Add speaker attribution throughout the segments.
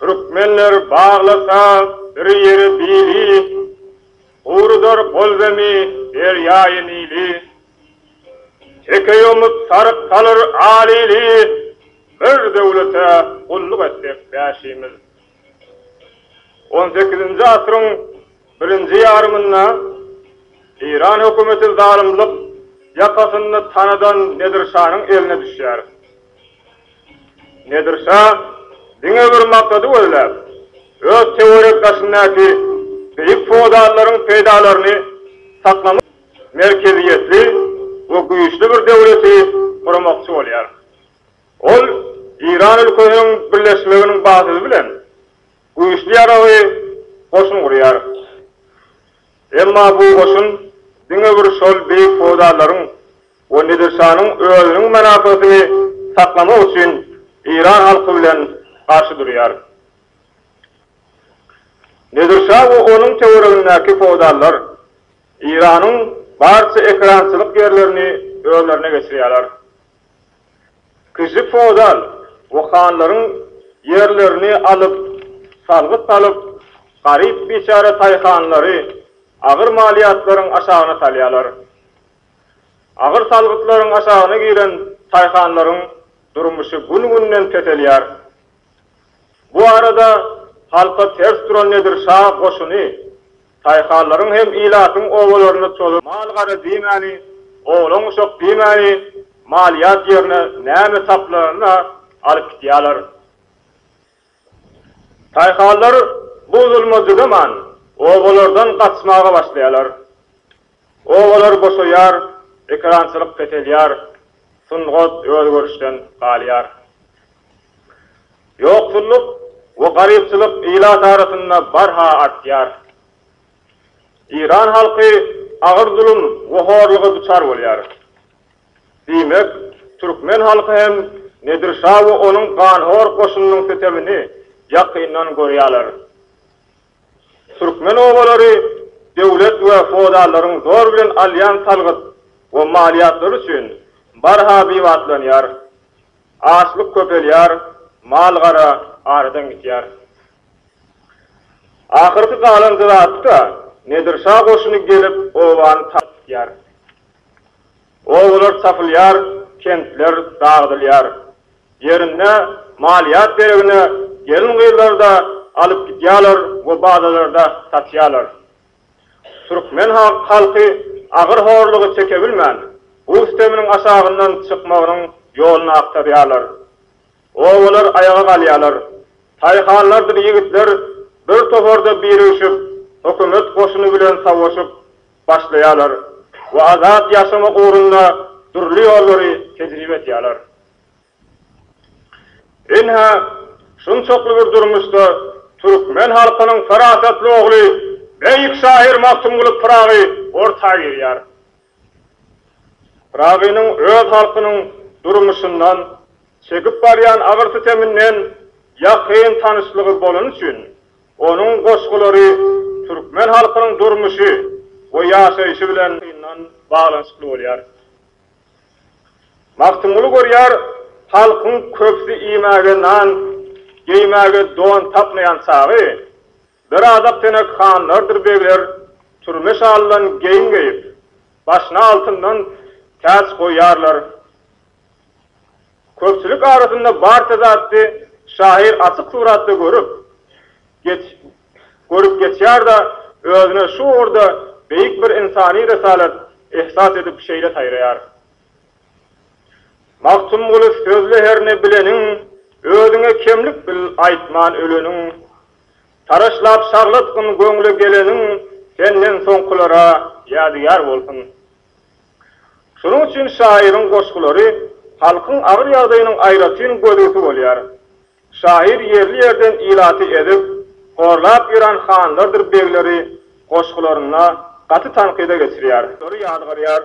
Speaker 1: Türkmenler baglasa bir ýeri bili, Gurudar golbemi derýaýy Nili. Teke ýomup saryk salar al ili, Bir döwlete gulluk etsek bäşimiz. On sekizinji asyryň birinji ýarymynda Eýran hökümeti zalymlyk ýakasynda tanadan Nedirşanyň eline düşýär. Nedir şa diňe bir maksady gözläp, öz töwerek-daşyndaky beýik feodallaryň peýdalaryny saklamak üçin merkeziýetli we güýçli bir döwleti gurmakçy bolýar. Ol Eýran ülkesiniň birleşmeginiň badydy bilen güýçli ýaragly goşun gurýar. Emma bu goşun diňe bir şol beýik feodallaryň we Nedirşanyň özüniň mynasatyny saklamak üçin Eýran halky bilen garşy durýar. Nedirşa we onuň töweregindäki feodallar Eýranyň barça ekerançylyk ýerlerini özlerine geçirýärler. Kişi feodal we hanlaryň ýerlerini alyp, salgyt salyp, garyp-biçäre taýhanlary agyr malyýatlaryň aşagyna salýarlar. Agyr salgytlaryň aşagyna giren daýhanlaryň durmuşy gün-günden peselýär. Bu arada halka ters duran Nedir şa goşuny daýhanlaryň hem ilatyň obalaryna çozup, mal-gara diýmäni, oglan-uşak diýmäni malýat ýerine näme tapylanyna alyp gidýärler. Paýhaslar bu zulma dyzaman, obalardan gaçmaga başlaýarlar. Obalar boşaýar, ekerançylyk peselýär, sungat özgerişden galýar. Ýoksullyk we garypçylyk ilat arasynda barha artýar. Eýran halky agyr zulum we horluga duçar bolýar. Diýmek, türkmen halky hem Nedir şa we onuň ganhor goşunynyň sütemini ýakyndan görýärler. Türkmen obalary döwlet we feodallaryň zor bilen alýan salgyt we maliýatlary üçin barha biwatlanýar. Açlyk köpelýär, mal-gara aradan gitýär. Ahyrky galan zat-da, Nedir şa goşuny gelip obany taryp gitýär. Obalar tapylýar, kentler dagdylýar. Ýerinde malýat beregine gelin-gyzlary-da alyp gidýärler we bazalarda satýarlar. Türkmen halky agyr horlugy çekebilmän, bu süteminiň aşagyndan çykmagynyň ýoluny agtarýarlar. Obalar aýaga galýarlar. Taýhanlardyr ýigitler bir toparda birigşip, hökümet goşuny bilen sawuşyp, başlaýarlar we azat ýaşamak ugrunda dürli ýollary tejribe edýärler. Ynha, şunçakly bir durmuşda türkmen halkynyň parasatly ogly, beýik şahyr Magtymguly Pyragy orta girýär. Pyragynyň öz halkynyň durmuşyndan, çekip barýan agyr-süteminden ýakyn tanyşlygy bolany üçin, Onuň goşgulary türkmen halkynyň durmuşy we ýaşaýşy bilen ýakyndan baglanyşykly bolýar. Magtymguly görýär, halkyň köpüsi iýmäge nan, geýmäge don tapmaýan çagy, bir adak tenek hanlardyr begler türme şalydan geýim geýip, başyna altyndan täç goýýarlar. Köpçülik arasynda barça zatdy şahyr açyk suratda görüp, geç, görüp geçýär-de, özüne şu ugurda beýik bir ynsany resalat ihsas edip şeýle saýraýar. Magtymguly sözle herne bileniň, özüňe kemlik bil aýtman öleniň. Taraşlap şaglatgyn göňle geleniň, senden soňkulara ýadygär bolsun. Şonuň üçin şahyryň goşgulary halkyň agyr ýagdaýynyň aýratyn gözügisi bolýar. Şahyr ýerli-ýerden ilaty ezip, horlap ýören hanlardyr begleri goşgularynda gaty tankyda geçirýär. Olary ýazgarýar.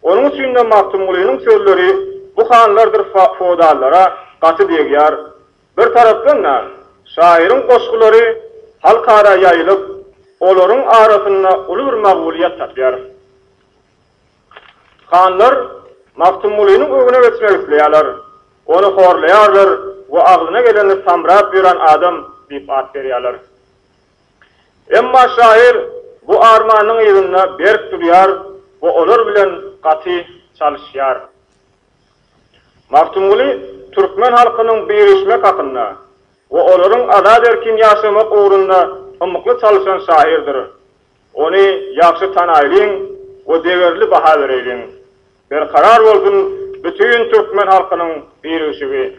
Speaker 1: Onuň üçin-de Magtymgulynyň sözleri bu hanlardyr feodallara gaty degýär. Bir tarapdan-da, şahyryň goşgulary halkara ýaýylyp, olaryň arasynda uly bir makbulyýet tapýar. Hanlar Magtymgulynyň öňüne geçmek isleýärler, ony horlaýarlar we agzyna geleni samrap ýören adam diýip at berýärler. Emma şahyr bu armanynyň yzynda berk durýar we olar bilen gaty çalyşýar. Magtymguly türkmen halkynyň birleşmek hakynda we olaryň azat-erkin ýaşamak ugrunda ymykly çalyşan şahyrdyr. Ony ýagşy tanaýlyň we degerli baha bereýliň. Berkarar bolsun bütin türkmen halkynyň birigşigi!